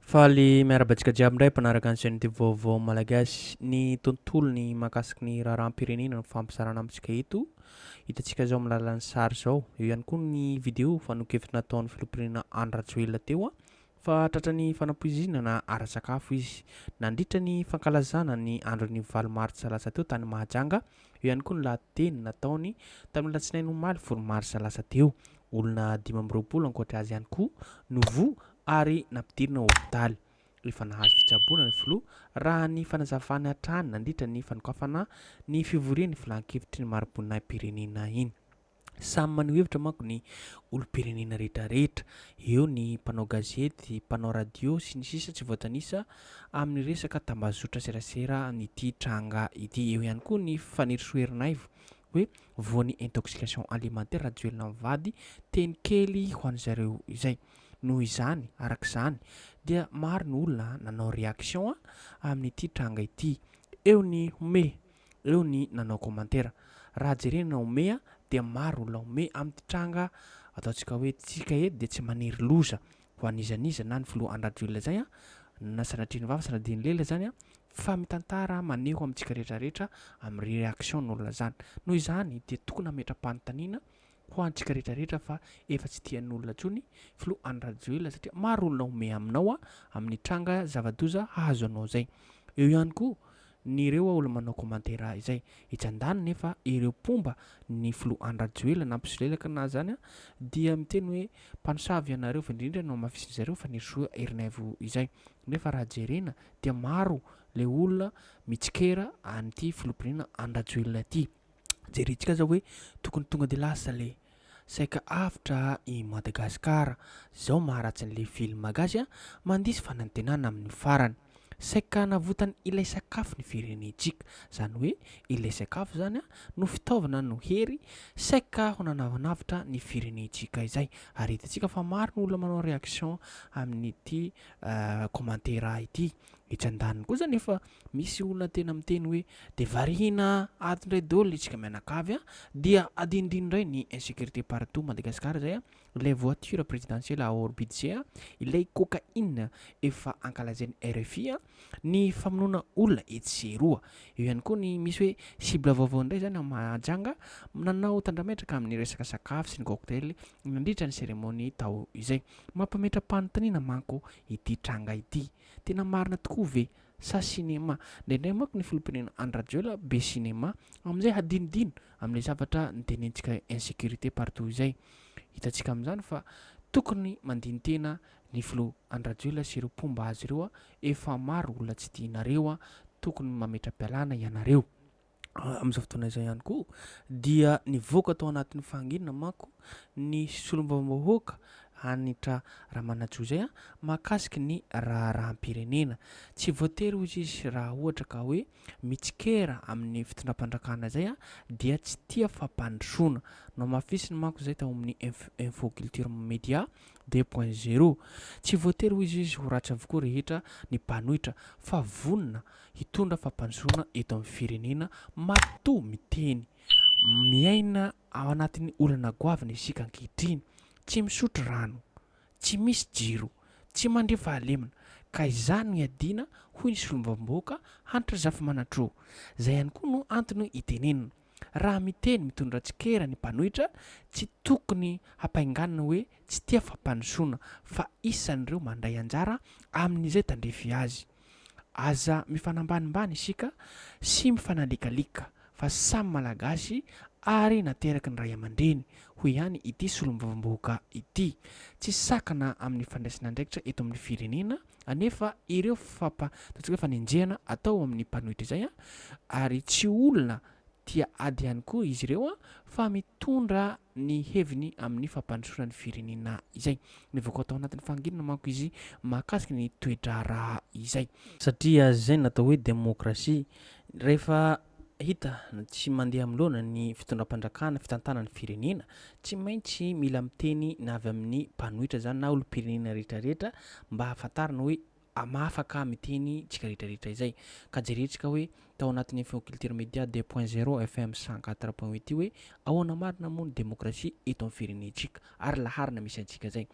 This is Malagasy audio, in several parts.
Faly miarahaba antsika jiaby indray mpanaraka ny chaîne Vaovao Malagasy. Ny tontolony mahakasiky ny raharaham-pirenena no fampizarana amintsika eto. Hitantsika izao amin'ny alalan'ny sary izao. Eo ihany koa ny vidéo fanehoan-kevitra nataon'ny filoham-pirenena Andry Rajoelina teo fa tratra ny fanapoizinana ara-tsakafo izy nandritra ny fankalazana ny andron'ny valo martsa lasa teo tany Mahajanga. Eo ihany koa ny lahateny nataony tamin'ny alatsinainy omaly folo marsa lasa teo. Olona dimy amby roapolo ankoatra azy ihany koa no voa ary nampidirina ao hopitaly. Efa nahazo fitsaboana ny filoha, raha ny fanazavany hatrany nandritra ny fanokafana ny fivorian'ny filan-kevitry ny mari-boninahim-pirenena iny. Samy maneho hevitra manko ny olom-pirenena rehetrarehetra, eo ny mpanao gazety, mpanao radio, sy ny sisa tsy voatanisa amin'ny resaka tambazotra serasera an'ity tranga ity. Eo ihany koa ny Fanirisoa Ernaivo hoe voan'ny intoxication alimentaire Rajoelina mivady teny kely ho an'izareo izay. Noho izany, araka izany, dia maro ny olona nanao réaction amin'ity tranga ity. Eo ny home, eo ny nanao commentaire. Raha jerena home dia maro olona home amin'ity tranga ataontsika hoe tsika eto dia tsy maniry loza ho an'iza n'iza na ny filoha Andry Rajoelina izay na sanatria nivava sanatria nilela izany fa mitantara maneho amintsika rehetra rehetra amin'ny réaction ny olona izany. Noho izany dia tokony hametra-panontaniana ho antsika rehetra rehetra fa efa tsy tian'olona intsony filoha Andry Rajoelina satria maro olona homehy aminao amin'ny tranga zava-doza hahazo anao zay. Eo ihany koa ny ireo olona manao commentaires izay etsy andaniny nefa ireo mpomba ny filoha Andry Rajoelina na mpisolelaka na zany dia miteny hoe mpanosavy ianareo fa indrindra no hamafisin'ny zareo fa Nerisoa Erinaivo izay nefa raha jerena dia maro le olona mitsikera an'ity filoham-pirenena Andry Rajoelina ity. Jerentsika aza hoe tokony tonga de lasa le saika avotra i Madagasikara zao maharatsy an'le film gasy a, mandiso fanantenana amin'ny farany. Saika hanavotany ilay sakafo ny firenentsika, zany hoe ilay sakafo zany a no fitaovana no hery saika ho nanavanavotra ny firenentsika izay ary hitantsika fa maro ny olona manao reaction amin'ity commentaire ity. Etsy andaniny kosa nefa misy olona tena miteny hoe dia variana ato indray dol isika mianakavy a! dia adinodino indray ny insecurite partout Madagascar izay a! ilay voiture presidentielle à hors budget a! ilay cocaïne efa ankalazain'ny rfi a! ny famonoana olona etsy sy eroa! eo ihany koa ny misy hoe cible vaovao indray izany ao Mahajanga nanao tandrametraka amin'ny resaka sakafo sy ny cocktail nandritra ny seremonia tao izay. Mampametra-panontaniana manko ity tranga ity, tena marina tokoa ve sa sinema? Indraindray manko ny filoham-pirenena Andry Rajoelina be sinema amin'izay hadinodino amin'ilay zavatra nitenentsika hoe insécurité partout izay. Hitantsika amin'izany fa tokony mandini-tena ny filoha Andry Rajoelina sy ireo mpomba azy ireo, efa maro olona tsy tianareo, tokony mametra-pialana ianareo. amin'izao fotoana izao ihany koa dia nivoaka tao anatin'ny fahanginana manko ny solombavambahoaka Hanitra Ramanajoa izay mahakasika ny raharaham-pirenena. Tsy voatery hoy izy raha ohatra ka hoe mitsikera amin'ny fitondram-pandrakana izay dia tsy tia fampandrosoana. Nohamafisiny manko izay tao amin'ny Info Culture Media deux point zero. Tsy voatery hoy izy ho ratsy avokoa rehetra ny mpanohitra fa vonona hitondra fampandrosoana eto amin'ny firenena matoa miteny. Miaina ao anatin'ny olana goavana isika ankehitriny, tsy misotro rano, tsy misy jiro, tsy mandre fahalemana ka izany no iadiana hoy ny solombavambahoaka Hanitra Zafimanantroa. Izay ihany koa no antony itenenana. Raha miteny mitondra tsikera ny mpanohitra, tsy tokony hampainganina hoe tsy tia fampandrosoana, fa isan'ireo mandray anjara amin'izay tandrify azy. Aza mifanambanimbany isika sy mifanalikalika, fa samy Malagasy ary nateraky ny ray aman-dreny, hoy ihany ity solombavambahoaka ity. Tsy sakana amin'ny fandraisana andraikitra eto amin'ny firenena anefa ireo fampa, ataontsika hoe fanenjehana atao ao amin'ny mpanohitra izay an, ary tsy olona tia ady ihany koa izy ireo an, fa mitondra ny heviny amin'ny fampandrosoana ny firenena izay. Nivoaka tao anatin'ny fahanginana manko izy mahakasika ny toe-draharaha izay. Satria izay no atao hoe demokrasia, rehefa Hita no tsy mandeha amloana ny fitondram-pandrakana fitantana ny firenena, tsy maintsy mila miteny na avy amin'ny mpanohitra zany na olom-pirenena rehetra rehetra mba hahafantarina hoe mahafaka miteny tsika rehetra rehetra izay. Ka jerentsika hoe tao anatin'ny feo culture media deux point zero FM cent quatre point huit io hoe ahoana marina moa ny demokrasia eto amin'ny firenentsika ary laharana misy antsika zay.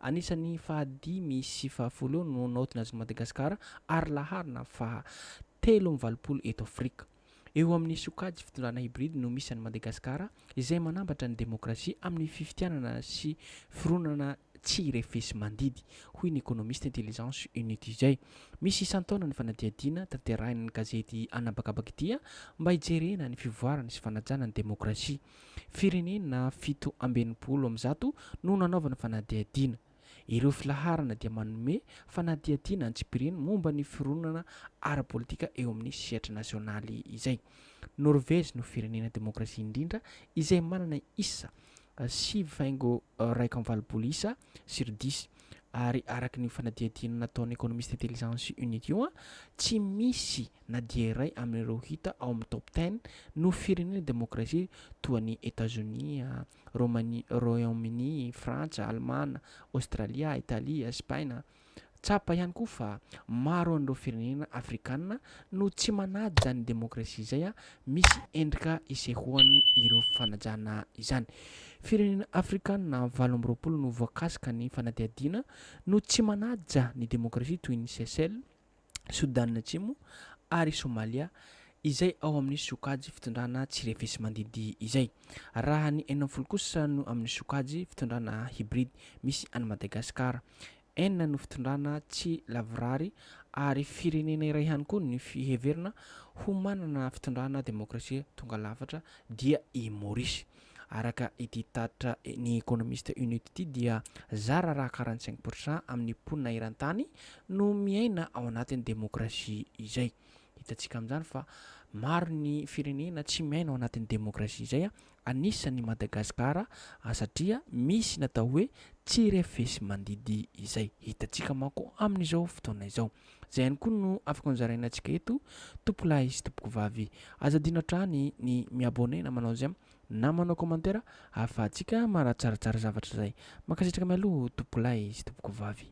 Anisan'ny fahadimy sy fahafolo eo no naotina azy Madagasikara ary laharana faha telo amby valopolo eto Afrika. Eo amin'ny sokajy fitondrana hybride no misy an'i Madagasikara izay manambatra ny demokrasia amin'ny fifidianana sy fironana tsy refesi-mandidy, hoy ny ekonomista Intelligence Unitizay. Misy isan-taona ny fanadihadiana tanterahin'ny gazety an'habakabaka ity mba hijerena ny fivoarany sy fanajana ny demokrasia. Firenena fito amby enimpolo amby zato no nanaovana fanadihadiana. Ireo filaharana dia manome fanadihadiana antsipiriany momba ny fironana ara-politika eo amin'ny sehatra nasionaly izay. Norvezy no firenena demokrasia indrindra izay manana isa sivy faingo iraika amby valopolo isa sur dix. Ary araka ny fanadihadiana nataon'ny Economist Intelligence Unit io, tsy misy na dia iray amin'ireo hita ao amin'ny Top Ten no firenena demokrasia toa an'i Etazonia, Romania, Royaume-Uni, Frantsa, Alemana, Aostralia, Italia, Espaina. Tsapa ihany koa fa maro an'ireo firenena afrikana no tsy manaja izany demokrasia izay misy endrika isehoany ireo fanajana izany. Firenena afrikana valo amby roapolo no voakasika ny fanadihadiana no tsy manaja ny demokrasia toy ny Seychelles, Sodàna Atsimo ary Somalia izay ao amin'ny sokajy fitondrana tsy refesi-mandidy izay. Raha ny enina amby folo kosa no amin'ny sokajy fitondrana hybride misy an'i Madagasikara. Enina no fitondrana tsy lavorary ary firenena iray ihany koa ny fiheverina ho manana fitondrana demokrasia tonga lafatra dia i Maorisy. Araka ity tatitra ny Economist Unit ity dia zara raha quarante cinq pour cent amin'ny mponina eran-tany no miaina ao anatin'ny demokrasia izay. Hitantsika amin'izany fa maro ny firenena tsy miaina ao anatin'ny demokrasia izay, anisan'I Madagasikara satria misy ny atao hoe tsy refesi-mandidy izay. Hitantsika manko amin'izao fotoana izao. Izay ihany koa no afaka nozaraina antsika eto tompolahy sy tompokovavy. Aza adino hatrany ny mi-abonner na manao j'aime na manao commentaire ahafahantsika manatsaratsara zavatra izay. Mankasitraka mialoha tompolahy sy tompokovavy.